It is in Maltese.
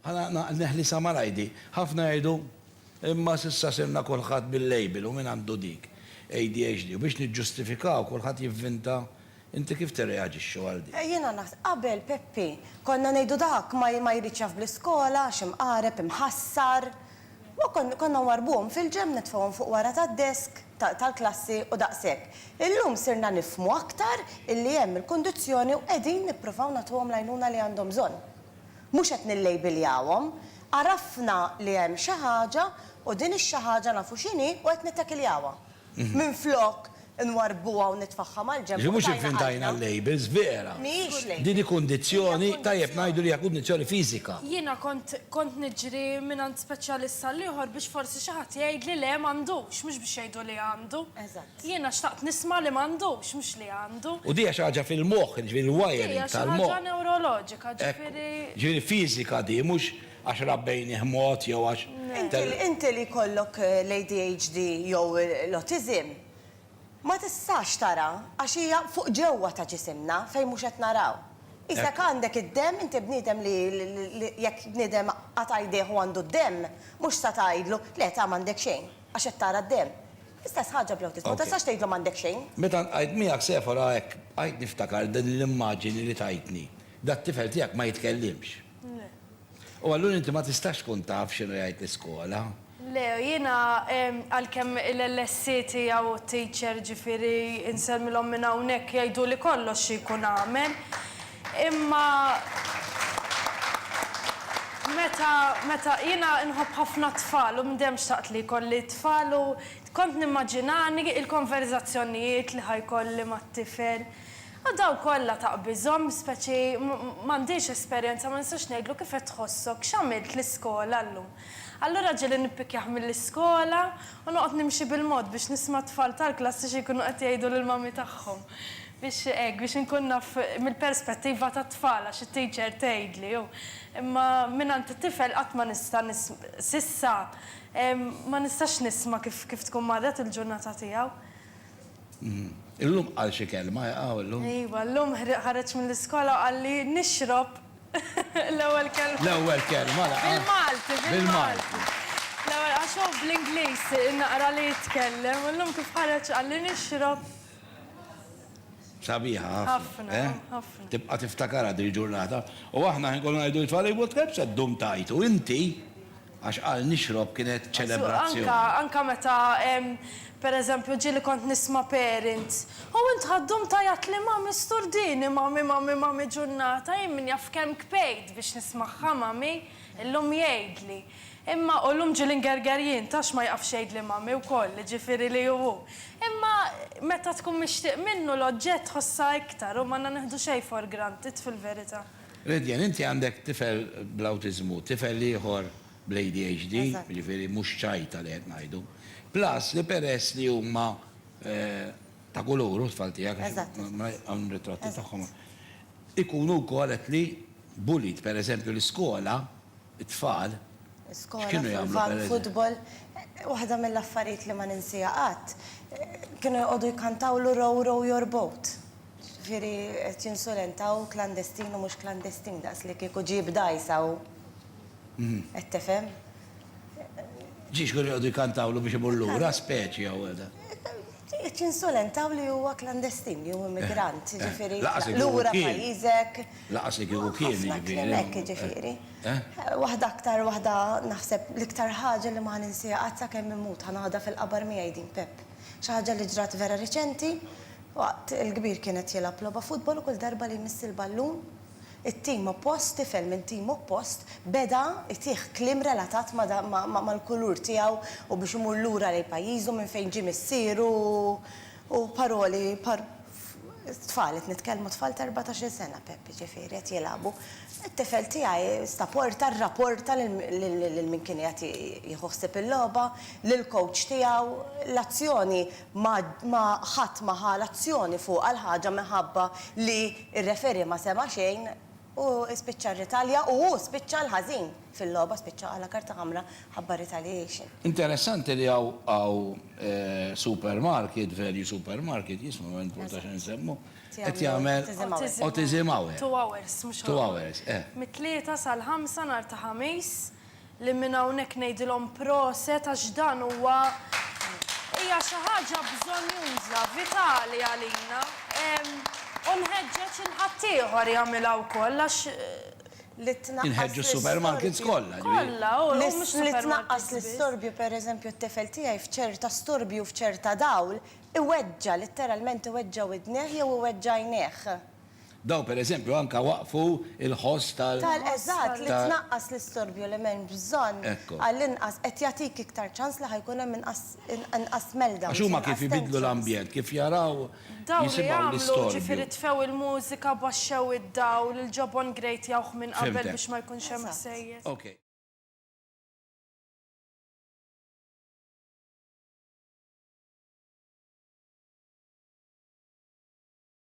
Għalaqna neħli sa mal-ID. Ħafna jgħidu, Imma s'issa sirna kulħadd bil-label u min għandu dik, ADHD, u biex niġġustifikaw kulħadd jivvinta Inti kif tirreaġixxu għal din? Jiena naħseb, qabel Peppi, konna ngħidu dak ma jridx jaf bl-iskola għax imqareb, imħassar. Konna nwarrbuhom fil-ġenb, nitfgħuhom fuq wara tad-desk tal-klassi u daqshekk. Illum sirna nifhmu aktar illi hemm il-kundizzjoni u qegħdin nippruvaw nagħtuhom l-għajnuna li għandhom bżonn. Mhux qed nillejbiljawhom. Għarafna li hemm xi ħaġa u din ix-xi ħaġa nafu x'inhi u qed nittakiljawha. Minflok inwarrbuha u nitfagħha mal-ġenb u tajna qalbna. Jiġifieri mhux inventajna l-labels vera. Mhijiex label. Din hi kundizzjoni, tajjeb ngħidu li hija kundizzjoni fiżika. Jiena kont kont niġri mingħand speċjalist għal ieħor biex forsi xi ħadd jgħidli le m'għandux, mhux biex jgħiduli għandu. Eżatt. Jiena xtaqt nisma' li m'għandux, mhux li għandu. U dija xi ħaġa fil-moħħ, jiġifieri l-wiring tal-moħħ. Dija xi ħaġa newroloġika, ġifieri. Ġifieri fiżika di, mhux għax rabbejni ħmod jew għax. Inti li jkollok l-ADHD jew l-Autism ma tistax tara għax hija fuq ġewwa ta' ġisimna fejn mhux qed naraw. Qisek għandek id-demm, inti bniedem li jekk bniedem qata' jdejh u għandu d-demm, mhux se tgħidlu, le ta' m'għandek xejn. Għax qed tara d-demm. L-istess ħaġa bl-awtiżmu, ma tistax tgħidlu m'għandek xejn. Meta nqajt miegħek Sephora hekk bqajt niftakar din l-immaġini li tajtni, dat-tifel tiegħek ma jitkellimx. U allura inti ma tistax tkun taf x'inhu jgħid l-iskola. Le, jiena għalkemm il-LSE tiegħu u t-teacher ġifieri nsellmilhom minn hawnhekk jgħiduli kollox xi jkun għamel. Imma meta meta jiena nħobb ħafna t-tfal u minn dejjem xtaqt li jkolli t-tfal u kont nimmaġinani l-konverżazzjonijiet li ħa jkolli mat-tifel u dawn kollha ta' qbiżhom speċi m'għandix esperjenza ma nistax ngħidlu kif qed tħossok x'għamilt l-iskola llum. Allura ġieli nippikkjah mill-iskola u noqgħod nimxi bil-mod biex nisma' t-tfal tal-klassi xi jkunu qed jgħidu lill-mami tagħhom. Biex hekk, biex inkun naf mill-perspettiva tat-tfal għax it-teacher tgħidli u, imma mingħand it-tifel qatt ma nista' s'issa ma nistax nisma' kif kif tkun marret il-ġurnata tiegħu. Illum qal xi kelma hawn illum? Iva, llum ħareġ mill-iskola u qalli nixrob l-ewwel kelma. L-ewwel kelma laqgħa. Bil-Malti, bil-Malti. L-ewwel għax hu bl-Ingliż naqra li jitkellem u llum kif ħareġ qalli nixrob. Sabiħa ħafna. Ħafna, eh? ħafna. Tibqa' tiftakarha din il-ġurnata. U aħna ħin kollu ngħidu l-tfal ejbu t-trebs qed ddum tgħajt u inti għax qal nixrob kienet ċelebrazzjoni. Anka, anka meta em, per eżempju ġieli kont nisma' parent, u int ħa ddum tgħajjat li mommy sturdini mommy mommy mommy ġurnata, jien min jaf kemm kbejt biex nismagħha mommy, illum jgħidli. Imma u llum ġieli ngerger jien, ta x'ma jqafx jgħidli Mummy wkoll, jiġifieri li hu hu. Imma meta tkun mixtieq minnu, l-oġġett tħossha iktar u m'għandna nieħdu xejn for granted fil-verità. Radian, inti għandek tifel bl-awtiżmu, tifel ieħor bl-ADHD, jiġifieri mhux ċajta li qed ngħidu. Plus li peress li huma ta' kulur, hu t-tfal tiegħek għax hawn ritratti tagħhom, ikunu wkoll qed li bullied. Pereżempju l-iskola, It-tfal x'kienu jagħmlu pereżempju? Skola, fil-vant, futbol. Waħda mill-affarijiet li ma ninsiha qatt, kienu joqogħdu jkantawlu row row your boat. Ġifieri qed jinsulentaw klandestin u mhux klandestin, daqslikieku ġieb dgħajsa u qed tifhem? Ġiex kienu joqogħdu jkantawlu biex imur lura, speċi jew. Qed jinsulentaw li huwa klandestin, li hu immigrant, jiġifieri lura pajjiżek. Lanqas li kieku kien. Ħafna kliem hekk jiġifieri. Waħda aktar waħda naħseb l-iktar ħaġa li ma ħa ninsiha qatt sakemm immut, ħa noħodha fil-qabar miegħi din Pepp. Xi ħaġa li ġrat vera riċenti, waqt il-kbir kien qed jilgħab logħba futbol u kull darba li jmiss il-ballun, It-tim oppost, tifel minn tim oppost, beda jtih kliem relatat mal-kulur tiegħu u biex imur lura lejn pajjiżu minn fejn ġie missieru u paroli tfal qed nitkellmu tfal ta' erbatax-il sena Pepp jiġifieri qed jilagħbu. It-tifel tiegħi staporta rraporta lil min kien qiegħed jieħu ħsieb il-logħba, lill-kowċ tiegħu, l-azzjoni ma ħadd ma ħa l-azzjoni fuqha l-ħaġa minħabba li Ir-referee ma sema' xejn u spiċċa rritalja u hu spiċċa l-ħażin fil-logħba, spiċċa għala karta ħamra ħabba retaliation. Interessanti li hawn supermarket, value supermarket, jismu ma jimpurtax insemmu, qed jagħmel Autism Hour. Two hours, mhux hour. Two hours, eh. Mit-Tlieta sal-Ħamsa nhar ta' Ħamis. li minn hawnhekk ngħidilhom proset għax dan huwa hija xi ħaġa bżonnjuża, vitali għalina u nħeġġeġ lil ħaddieħor jagħmilha wkoll għax li tnaqqas l-istorbju. Kollha, u mhux supermarkets biss. Li tnaqqas l-istorbju, pereżempju t-tifel tiegħi f'ċerta storbju u f'ċerta dawl iweġġa', litteralment iweġġa' widnejh jew iweġġa' għajnejh. Dawn pereżempju anke waqqfu l-ħoss tal. Tal. Eżatt, li tnaqqas l-istorbju li m'hemmx bżonn. Hekk. Għall-inqas qed jagħtik iktar ċans li ħa jkun hemm inqas inqas meltdowns. Għax huma kif ibiddlu l-ambjent, kif jaraw, jisimgħu l-istorbju. Dawn li għamlu, ġifieri tfew il-mużika, baxxew id-dawl, il-ġobon grejtjawh minn qabel biex ma jkunx hemm ħsejjes. Ok.